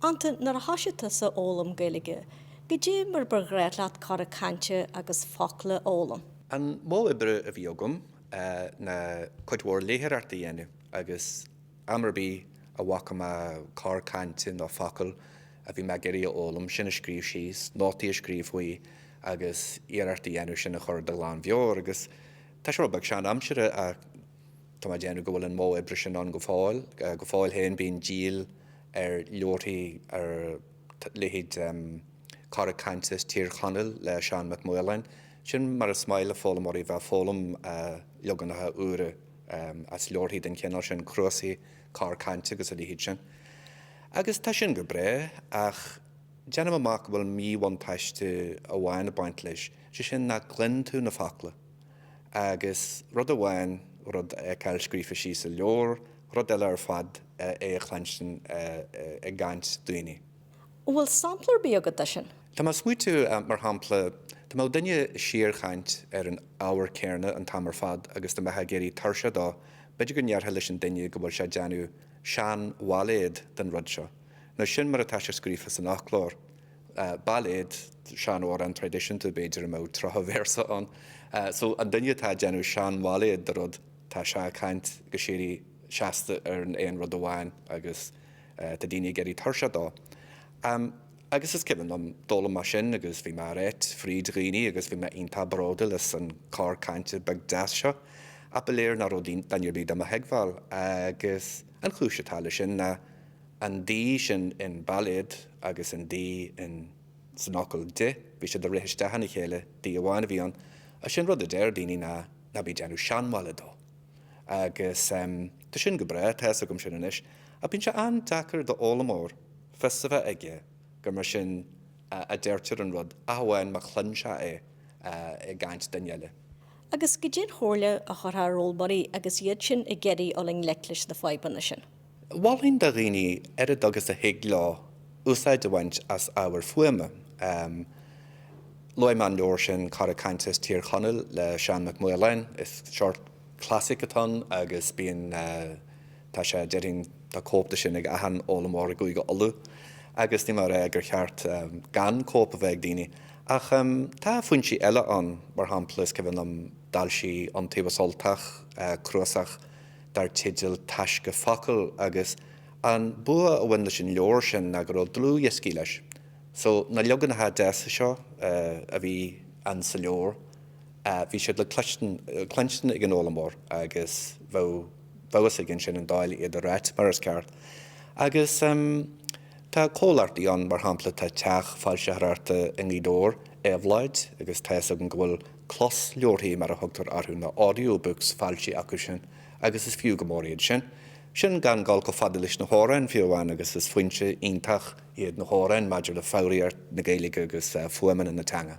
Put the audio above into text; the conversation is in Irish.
Antain, nuair a thoisigh tusa a fhoghlaim Gaeilge, goidé mar ba ghnách leat cora cainte agus focla a fhoghlaim? An modh oibre a bhí agam ná cuid mhór léitheoireachta a dhéanamh agus am ar bith a bhfaca mé cor cainte nó focal a bhí mé ag iarraidh a fhoghlaim, sin a scríobh síos, nótaí a scríobh faoi agus iarracht a dhéanamh sin a chur de ghlan mheabhair agus tá sé rud beag sean-aimseartha ach Tá mé ag déanamh go bhfuil an modh oibre sin ann go fóill. Go fóill féin bíonn díol ar leabharthaí ar leithéid Cora Cainte as Tír Chonaill le Seán Mac Maoláin. Sin mar is maith le foghlaimeoirí bheith ag foghlaim, leaganacha úra as leabharthaí den chineál sin, cnuasaigh cor cainte agus a leithéid sin. Agus tá sin go breá, ach déanaim amach go bhfuil míbhuntáiste amháin ag baint leis, sé sin nach gcluin tú na focla. agus rud amháin rud a fheiceáil scríofa síos i leabhar, rud eile ar fad é a chluinstin i gcaint daoine. An bhfuil sampla ar bith agat de sin? Tá mé ag smaoiteamh, mar shampla, dá mbeadh duine ag síorchaint ar an ábhar céanna an t-am ar fad agus dá mbeifeá ag éirí tuirseach dó, b'fhéidir go ndéarfá leis an duine go bhfuil sé ag déanamh seanbhailéad den rud seo, nó sin mar atá sé scríofa san fhoclóir. bailéad sean-amhrán traidisiúnta b'fhéidir a mbeadh tríocha véarsa ann so an duine atá ag déanamh sean-bhailéad de rud tá sé ag caint go síoraí seasta ar an aon rud amháin agus tá daoine ag éirí tuirseach dó agus is cuimhin liom d'fhoghlaim mé sin agus bhí mé á ráit fríd dhaoine agus bhí mé iontach bródúil as an cor cainte beag deas seo ach ba léir nach raibh duine ar bith do mo thuigbheáil agus an chúis atá leis sin ná an d sin in bailéad agus an d in san fhocal de, bhí siad a' rith isteach ina chéile, d amháin a bhí ann agus an rud a deir daoiní ná ná bí ag déanamh seanbhailé dó agus em tá sin go breá, tá 'fhios agam sin anois ach bíonn sé an-deacair do fhoghlaimeoir fios a bheith aige gur mar sin a a deirtear an rud ach amháin má chluin sé é i gcaint duine eile. Agus cad é an chomhairle a chuirfeá ar fhoghlaimeoirí agus iad sin ag iarraidh dul i ngleic leis na fadhbanna sin? Mholfainn do dhaoine, oiread agus a thig leo, úsáid a bhaint as ábhar fuaime. Luaigh mé an leabhar sin Cora Cainte as Tír Chonaill le Seán Mac Maoláin. Is seort clasaic atá ann agus bíonn, tá sé, déarfainn, tá cóip de sin ag achan fhoghlaimeoir i gCúige Uladh agus níl mé a rá gur cheart gan cóip a bheith ag daoine. Ach tá foinsí eile ann, mar shampla, is cuimhin liom d'fhoilsigh Iontaobhas Ultach, cnuasach, dar teideal Taisce Focal agus an bua a bhain leis an leabhar sin ná go raibh dlúthdhioscaí leis so na leaganacha deasa seo a bhí ann sa leabhar bhí siad le cluinstin ag an fhoghlaimeoir agus bheadh feabhas aige ansin an dóigh le iad a ráit mar is ceart. Agus tá comhlachtaí ann mar shampla tá teach foilsitheoireachta i nGaoth Dobhair, Éabhlóid, agus tá fhios agam go bhfuil closleabharthaí mar a thugtar orthu, na audiobooks, ar fáil acu sin, agus is fiú go mór iad sin. Sin gan dul chomh fada leis na hamhráin, fiú amháin, agus is foinse iontach iad na hamhráin maidir le foghraíocht na Gaeilge agus fuaimeanna na teanga.